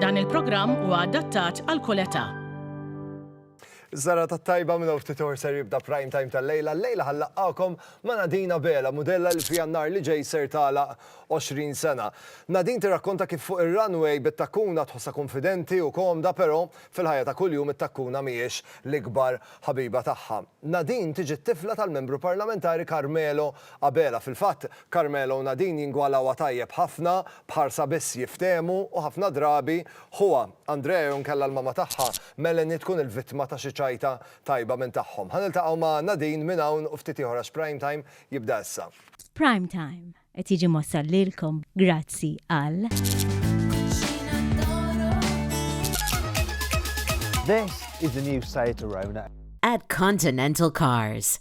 Dan il-programm huwa adattat għal kull età. Zara ta' tajba minn ftit or ser jibda prime time tal-lejla. Lejla ħallaqqakom ma' Nadina Bela, modella li fija nar li ġej ser tala 20 sena. Nadin tirrakkonta kif fuq ir-runway bit-takkuna tħossa konfidenti u komda, però fil-ħajja ta' kuljum it-takkuna mhijiex l-ikbar ħabiba tagħha. Nadin tiġi t-tifla tal-Membru Parlamentari Carmelo Abela, fil-fatt, Carmela u Nadine jingwalawha tajjeb ħafna, b'ħarsa biss jiftehmu u ħafna drabi, ħuha, Andrea jew inkella l-mama tagħha, Melanie tkun il-vittma ta' xi ċajta tajba minn tagħhom. Ħa niltaqgħu ma' Nadine minn hawn u ftit ieħor għax Prime Time jibda issa. Prime Time qed jiġi mwassal lilkom grazzi għal. This is the new Seat Arona. At Continental Cars.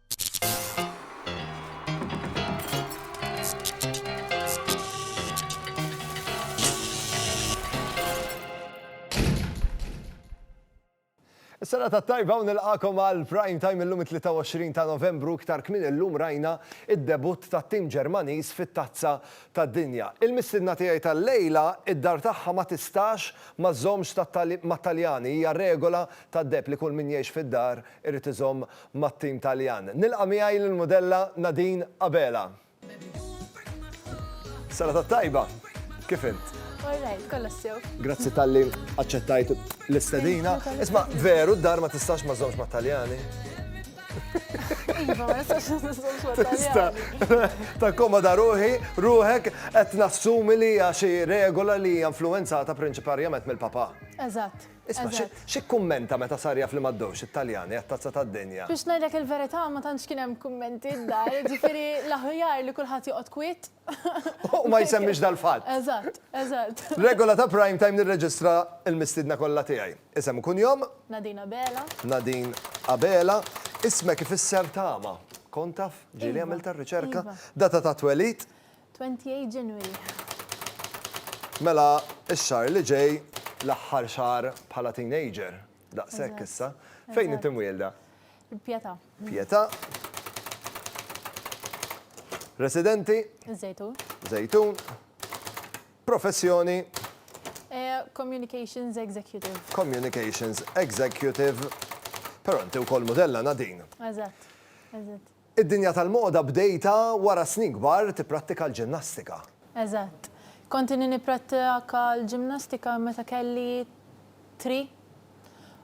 Sena ta' tajba u nilqakom għal prime time illum 23 ta' novembru iktar kmin illum rajna id-debut ta' tim Ġermaniż fit-tazza ta' dinja. Il-missidna tiegħi tal-lejla id-dar tagħha ma tistax ma żommx mat-Taljani hija regola tad-deb li kull min jgħix fid-dar irid iżomm mat-tim Taljan. Nilqa' miegħi lill-mudella Nadine Abela. Serata tajba! Kif int? All right, kollox sew. Grazzi talli aċċettajt l-istedina. Isma', veru d-dar ma tistax ma żżommx mat-Taljani? Iva, ma nistax niżżomm xogħol Tista, tal-jari. takkomoda ruħi, ruħek qed nassumi li hija xi regola li hija influwenzata prinċiparjament mill-papà. Eżatt. Isma' xi xi kkummenta meta sar jaf li m'għaddewx it-Taljani għat-Tazza tad-Dinja. Biex ngħidlek il-verità ma tantx kien hemm kummenti d-dar, jiġifieri l-aħjar li kulħadd joqgħod kwiet. U ma jsemmix dal-fatt. Eżatt, eżatt. Regola ta' Prime Time nirreġistra l-mistiedna kollha tiegħi. Isem u kunjom? Nadine Abela. Nadine Abela. Ismek ifisser tama. Kont taf? Ġieli għamiltha r-riċerka. Data ta' twelid? 28 Ġenwilja. Mela, ix-xahar li ġej, l-aħħar xahar bħala teenager, daqshekk issa, fejn inti mwielda? Pjeta. Pjeta. Residenti? Zejtun. Zejtun. Professjoni? Eh, communications Executive. Communications Executive. Pero inti u kol modella nadin. Eżat, eżat. Id-dinja tal-moda bdejtha wara snin kbar tipprattika l-ġimnastika. Eżatt. Kont inni nipprattika l-ġimnastika meta kelli tri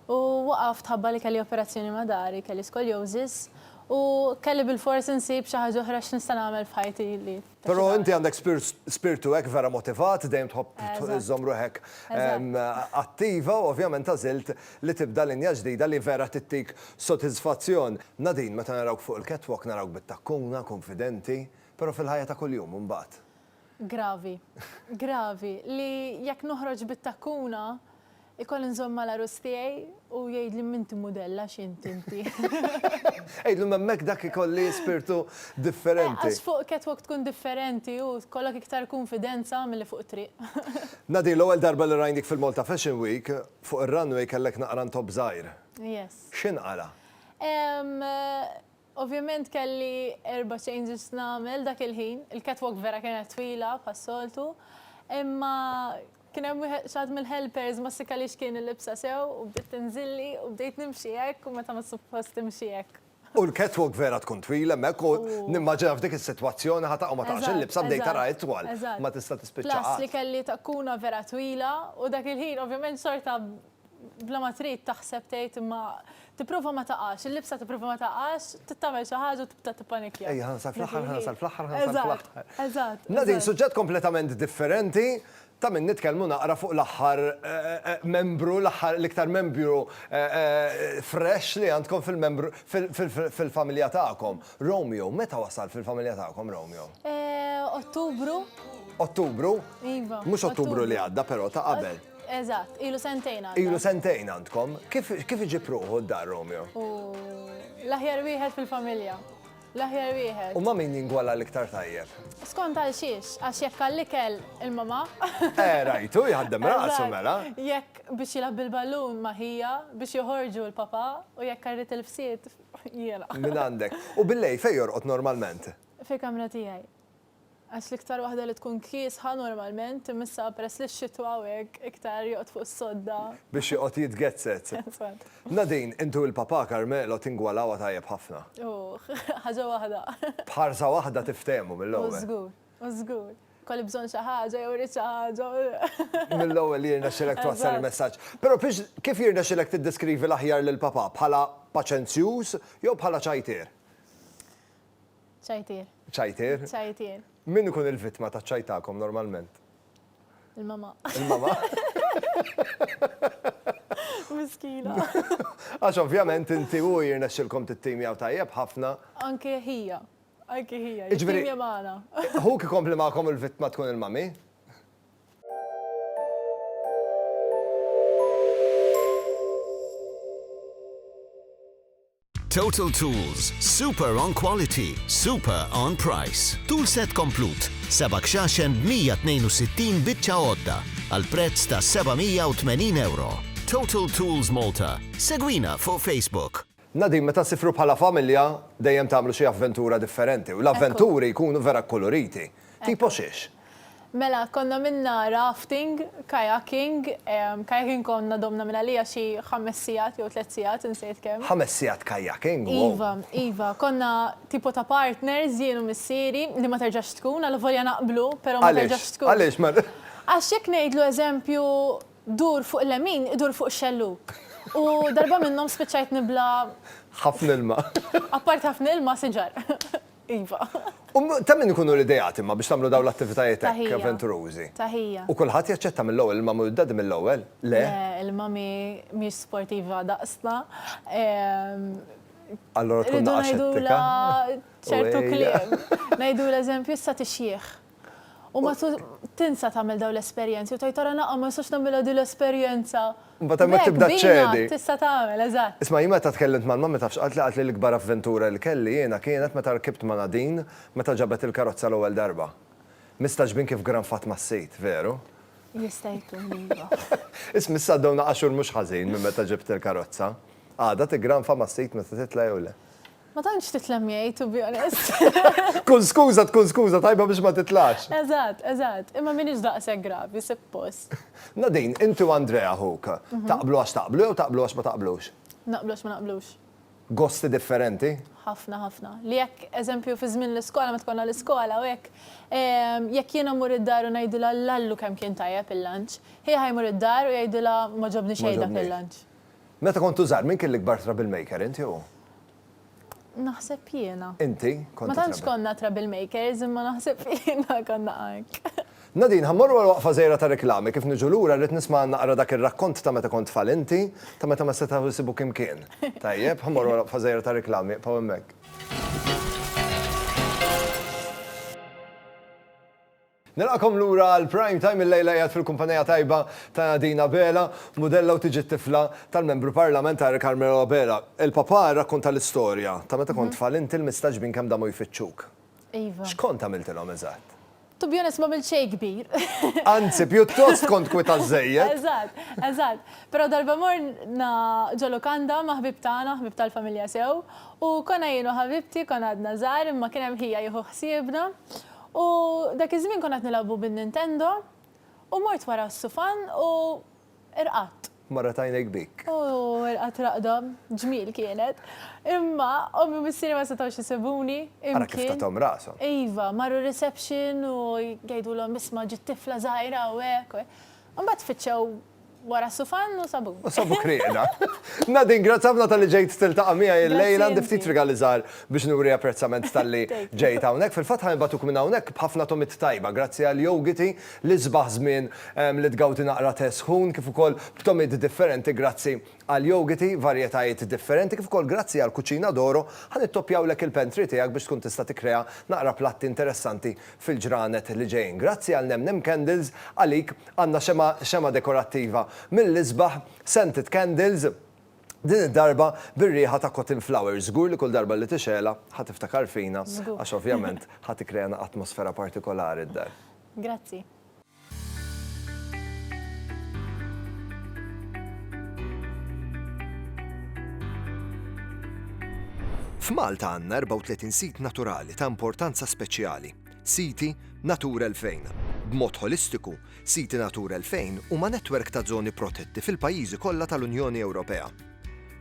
u waqaft ħabba li kelli operazzjoni ma' dari, kelli scoliosis u kelli bilfors insib xi ħaġa oħra x'nista' nagħmel f'ħajti li Però inti għandek spirtu hekk vera motivat, dejjem tħobb iżżomm ruħek attiva u ovvjament għażilt li tibda linja ġdida li vera tittik sotisfazzjon. Nadine, meta narawk fuq il-catwalk narawk bit-takkuna, kunfidenti, però fil-ħajja ta' kuljum imbagħad? Gravi. Gravi. Li jekk noħroġ bit-takkuna, Ikolli nżomm mal-għarus tiegħi u jgħidli m'inti mudell għax int inti. Għidlu m'hemmhekk dak ikolli spirtu differenti. Għax fuq catwalk tkun differenti u jkollok iktar kunfidenza milli fuq it-triq. Nadir, l-ewwel darba li rajnik fil-Malta Fashion Week, fuq ir-runway kellek naqra ntopp żgħir. Yes. X'inqala? Ehm, Ovvjament kelli erba' changes nagħmel dak il-ħin, il-catwalk vera kienet twila bħas-soltu, imma kien hemm wieħed xi ħadd mill-helpers ma ssikkalix kien ilibsha sew u bdiet tinżilli u bdejt nimxi hekk u meta ma suppost timxi hekk. U l-catwalk vera tkun twila hemmhekk u nimmaġina f'dik is-sitwazzjoni ħa taqa' u ma taqax il-libsa bdejt tara itwal, ma tista' tispiċċa qatt. Plus li kelli takkuna vera twila u dak il-ħin ovvjament xorta bla ma trid taħseb tgħid imma tipprova ma taqax, il-libsa tipprova ma taqax, trid tagħmel xi ħaġa u tibda tippanikkja. Ejja, ħa nasal fl-aħħar, ħa nasal fl-aħħar, ħa nasal fl-aħħar. Eżatt, eżatt. Nadine, suġġett kompletament differenti, ta' min nitkellmu naqra fuq l-aħħar membru, l-aħħar l-iktar membru fresh li għandkom fil-membru fil-familja tagħkom. Romeo, meta wasal fil-familja tagħkom Romeo? Ottubru. Ottubru? Iva. Mhux Ottubru li għadda però ta' qabel. Eżatt, ilu sentejn għandha. Ilu sentejn għandkom. Kif iġib ruħu d-dar Romeo? L-aħjar wieħed fil-familja. L-aħjar wieħed. U ma min jingwala l-iktar tajjeb? Skont għal xiex, għax jekk għall-ikel il-mama. Eh, rajtu, jħaddem rasu mela. Jekk biex jilab bil-ballun maħija, biex joħorġu l-papa, u jekk għarrit il-fsiet, jela. Min għandek. U billej fej jorqot normalment? Fil-kamra tijaj. Għax l-iktar waħda li tkun kiesħa normalment imissha peress li x-xitwa hawnhekk iktar joqgħod fuq is-sodda. Biex joqgħod jitgezzet. Eżatt. Nadine, int u l-papà Carmelo tingwalawha tajjeb ħafna. Uħ, ħaġa waħda. B'ħarsa waħda tiftehmu mill-ewwel. U żgur, u żgur. Kolli bżonn xi ħaġa jew irrid xi ħaġa u. Mill-ewwel jirnexxilek twassal il-messaġġ. Però biex kif jirnexxilek tiddeskrivi l-aħjar lill-papà, bħala paċenzjuż jew bħala ċajtier? Ċajtier. Ċajtier? Ċajtier. Min ikun il-vittma ta' ċajtakom normalment? Il-mama. Il-mama? Miskina. Għax ovvjament inti u jirna xilkom t-tim jaw tajjeb ħafna. Anke hija. Anke hija. Ġviri. Hu ki kompli maħkom il-vittma tkun il-mami? Total Tools, super on quality, super on price. Tool set komplut, seba' kxaxen b'162 biċċa għodda għal prezz ta' €780. Total Tools Malta, segwina fuq Facebook. Nadine, meta ssifru bħala familja, dejjem tagħmlu xi avventura differenti u l-avventuri jkunu vera kkuluriti. Tipo xiex? Mela, konna minna rafting, kayaking, kayaking konna domna minn għalija xi ħames sigħat jew tliet sigħat insejt kemm. Ħames sigħat kayaking? Wow! Iva, iva, konna tipo ta' partners jien u missieri li ma terġax tkun, allavolja naqblu, però ma terġax tkun. Għaliex? Għaliex? Għax jekk ngħidlu eżempju dur fuq il-lemin, idur fuq ix-xellug. U darba minnhom spiċċajt nibla'. Ħafna ilma. Apart ħafna ilma, siġar. Iva. U ta' min ikunu l-ideat imma biex tagħmlu dawn l-attivitajiet hekk avventurużi? Taħija. U kulħadd jaċċetta mill-ewwel, il-mami u d-daddy mill-ewwel? Le? Le, il-mami mhix sportiva daqsna. Allura tkun naqa' xettika. Ngħidulha ċertu kliem. Ngħidulha eżempju issa tixjieħ. U ma tinsa tagħmel dawn l-esperjenzi u tgħid ara naqgħu ma nistax nagħmilha din l-esperjenza. Imbagħad hemmhekk tibda ċċedi. Tista' tagħmel, eżatt. Isma' jien meta tkellimt mal-mummy taf x'qalt li? Qalt li l-ikbar avventura li kelli jiena kienet meta rkibt ma' Nadine meta ġabet il-karozza l-ewwel darba. Mistagħġbin kif granfat mas-sid, veru? Jista' jkun, iva. Isma' issa għaddew naqa' xhur mhux ħażin minn meta ġibt il-karozza. Għadha tiggranfa mas-sid meta titla' jew le? Ma tantx titlem miegħi to be honest. Kull skuża tkun skuża tajba biex ma titlax. Eżatt, eżatt. Imma m'iniex daqshekk gravi, sippost. Nadine, inti u Andrea ħuk, taqblu għax taqblu jew taqblu għax ma taqblux? Naqblu għax ma naqblux. Gosti differenti? Ħafna, ħafna. Li jekk, eżempju, fi żmien l-iskola, meta konna l-iskola u hekk, jekk jiena mmur id-dar u ngħidilha l-Allu kemm kien tajjeb il-lunch, hi ħa jmur id-dar u jgħidilha ma ġobni xejn dak il-lunch. Meta kontu żgħar min kien l-ikbar troublemaker, int jew hu? Naħseb jiena. Inti kont. Ma tantx konna troublemakers imma naħseb jiena konna ank. Nadine, ħa mmorru għal waqfa żgħira ta' reklami, kif niġu lura rrid nisma' naqra dak ir-rakkont ta' meta kont tfal inti, ta' meta ma setgħu jsibuk imkien. Tajjeb, ħa mmorru għal waqfa żgħira ta' reklami, ibqgħu hemmhekk. Nilqagħkom lura għal Prime Time illejla qiegħed fil-kumpanija tajba ta' Nadine Abela, mudella u tiġi t-tifla tal-Membru Parlamentari Carmelo Abela. Il-papà rrakkonta l-istorja ta' meta kont tfal inti l-mistaġbin kemm damu jfittxuk. Iva. X'kont għamiltilhom eżatt? To be honest m'għamilt xejn kbir. Anzi, pjuttost kont kwita żżejjed. Eżatt, eżatt. Però darba morna ġo lukanda ma' ħbieb tagħna, ħbieb tal-familja sew, u konna jien u ħabibti konna għadna żgħar imma kien hemm ħija jieħu ħsiebna, U dak iż-żmien konna qed nilgħabu bin-Nintendo u mort wara s-sufan u rqadt. Marret għajnejk bik. U rqadt raqda ġmiel kienet. Imma ommi u missieri ma setgħux isibuni imkien. Ara kif tathom rashom. Iva, marru r-reception u jgħidulhom isma' ġiet tifla żgħira hawnhekk. Imbagħad tfittxew Wara s-sufan u sabu. U sabu kriqda. Nadine, grazzi ħafna talli ġejt tiltaqa' miegħi llejla għandi ftit rigali żgħar biex nuri apprezzament talli ġejt hawnhekk. Fil-fatt ħa nibgħatuk minn hawnhekk b'ħafna tomiet tajba grazzi għal Yogiti li sbaħ żmien li tgawdi naqra tè sħun kif ukoll b'tomiet differenti grazzi Għall-jogiti, varjetajiet differenti kif ukoll grazzi għall-Cucina d'Oro ħa nittoppjawlek il-pantry tiegħek biex tkun tista' tikkrea naqra platti interessanti fil-ġranet li ġejjin. Grazzi għal Nemnem Candles, għalik għandna xemgħa xemgħa dekorattiva mill-isbaħ, scented candles, din id-darba bir-riħa ta' cotton flowers. Żgur li kull darba li tixgħelha ħa tiftakar fina għax ovvjament ħa tikkrea atmosfera partikolari d-dar. Grazzi. F'Malta għandna 34 sit naturali ta' importanza speċjali, Siti Natura 2000. B'mod ħolistiku, Siti Natura 2000 huma netwerk ta' żoni protetti fil-pajjiżi kollha tal-Unjoni Ewropea.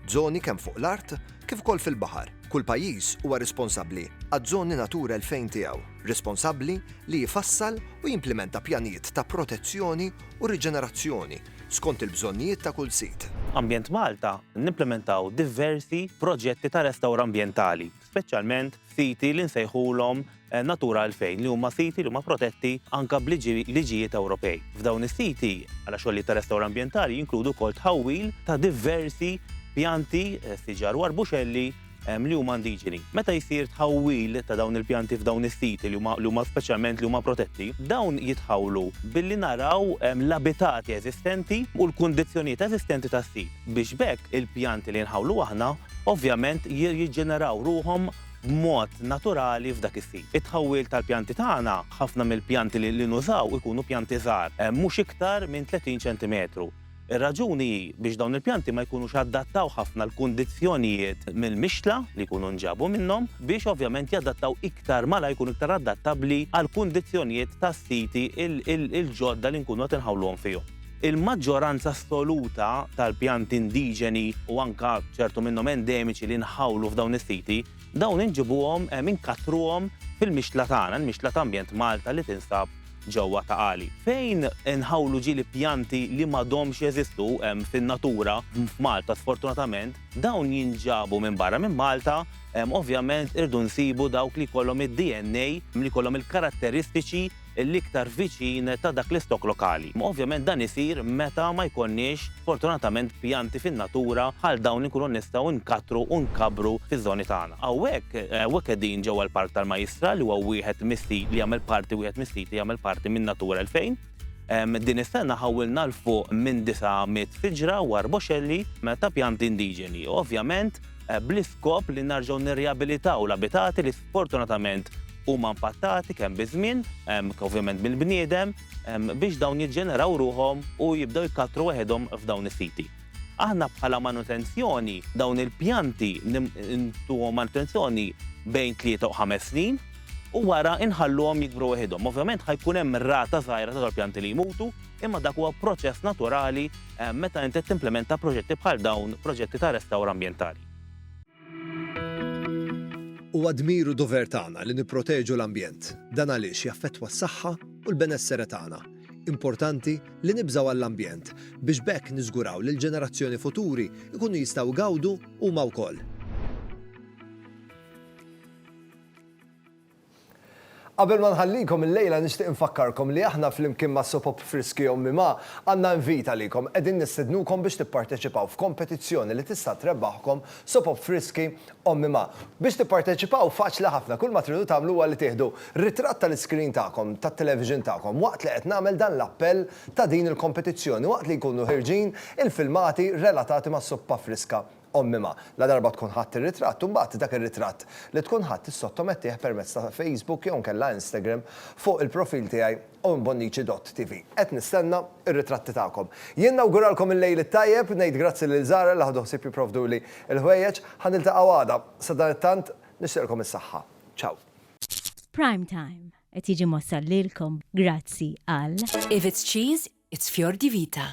Żoni kemm fuq l-art kif ukoll fil-baħar, kull pajjiż huwa responsabbli għaż-żoni Natura 2000 tiegħu, responsabbli li jfassal u jimplimenta pjanijiet ta' protezzjoni u riġenerazzjoni skont il-bżonnijiet ta' kull sit. Ambjent Malta nimplimentaw diversi proġetti ta' restawr ambjentali. speċjalment f'siti li nsejħulhom Natura 2000 li huma siti li huma protetti anke b'liġijiet Ewropej. F'dawn is-siti għal xogħlijiet ta' restawr ambjentali jinkludu wkoll tħawwil ta' diversi pjanti, eh, siġar u arbuxelli eh, li huma indiġeni. Meta jsir tħawwil ta' dawn il-pjanti f'dawn is-siti li huma speċjalment li huma protetti, dawn jitħawlu billi naraw eh, l-abitati eżistenti u l-kundizzjonijiet eżistenti tas-sit biex bekk il-pjanti li nħawlu aħna ovvjament jirriġġeneraw ruħhom b'mod naturali f'dak is-sit. It-tħawwil tal-pjanti tagħna, ħafna mill-pjanti li nużaw ikunu pjanti żgħar, mhux iktar minn 30 ċentimetru. Ir-raġuni hi biex dawn il-pjanti ma jkunux adattaw ħafna l-kundizzjonijiet mill-mixtla li jkunu nġabu minnhom biex ovvjament jadattaw iktar malajr, jkunu iktar adattabbli għall-kundizzjonijiet tas-siti l-ġodda li nkunu qed inħawluhom fihom. Il-maġġoranza assoluta tal-pjanti indiġeni u anke ċertu minnhom endemiċi li nħawlu f'dawn is-siti, dawn inġibuhom, inkattruhom fil-mixtla tagħna, il-mixtla ta' Ambjent Malta li tinsab ġewwa Ta' Qali. Fejn inħawlu ġieli pjanti li m'għadhomx jeżistu fin-natura f'Malta sfortunatament, dawn jinġabu minn barra minn Malta, ovvjament irridu nsibu dawk li jkollhom id-DNA, li jkollhom il-karatteristiċi l-iktar viċin ta' dak l-istokk lokali. Ovvjament dan isir meta ma jkollniex fortunatament pjanti fin-natura bħal dawn li nkunu nistgħu nkattru u nkabbru fiż-żoni tagħna. Hawnhekk hawnhekk qegħdin ġewwa l-Park tal-Majjistra li huwa wieħed mis-sit li jagħmel parti wieħed mis-siti li jagħmel parti minn Natura 2000. Din is-sena ħawwilna 'l fuq minn 900 siġra u arboxelli ta' pjanti indiġeni, ovvjament bl-iskop li nerġgħu nirriabilitaw l-abitati li sfortunatament huma impattati kemm biż-żmien, ovvjament mill-bniedem, biex dawn jiġġeneraw ruħhom u jibdew jkattru weħidhom f'dawn is-siti. Aħna bħala manutenzjoni, dawn il-pjanti ntuhom manutenzjoni bejn tlieta u ħames snin u wara nħalluhom jikbru weħidhom. Ovvjament ħa jkun hemm rata żgħira ta' dal-pjanti li jmutu, imma dak huwa proċess naturali meta inti qed timplimenta proġetti bħal dawn, proġetti ta' restawr ambjentali. Huwa dmir u dover tagħna li nipproteġu l-ambjent. Dan għaliex jaffettwa s-saħħa u l-benessere tagħna. Importanti li nibżgħu għall-ambjent biex b'hekk niżguraw li l-ġenerazzjoni futuri jkunu jistgħu jgawdu huma wkoll. Qabel ma nħallikom illejla nixtieq infakkarkom li aħna flimkien ma' Sopop Friski Ommi Ma' għandna invit għalikom, qegħdin nistednukom biex tipparteċipaw f'kompetizzjoni li tista' trebbaħkom Sopop Friski Ommi Ma'. Biex tipparteċipaw faċli ħafna, kull ma tridu tagħmlu huwa li tieħdu ritratt tal-iskrin tagħkom tat-television tagħkom waqt li qed nagħmel dan l-appell ta' din il-kompetizzjoni waqt li jkunu ħierġin il-filmati relatati mas-Suppa Friska Ommi ma, ladarba tkun ħadt ir-ritratt, imbagħad dak ir-ritratt li tkun ħadt issottomettih permezz ta' Facebook jew inkella Instagram fuq il-profil tiegħi owenbonnici.tv. Qed nistenna r-ritratti tagħkom. Jien nawguralkom il-Lejl it-Tajjeb, ngħid grazzi lil Zahra li ħadu ħsieb jipprovduli l-ħwejjeġ. Ħa niltaqgħu għada. Sadanittant, nixtieqlkom is-saħħa. Ciao. Prime Time qed jiġi mwassal lilkom grazzi għal. If it's cheese, it's fior di vita.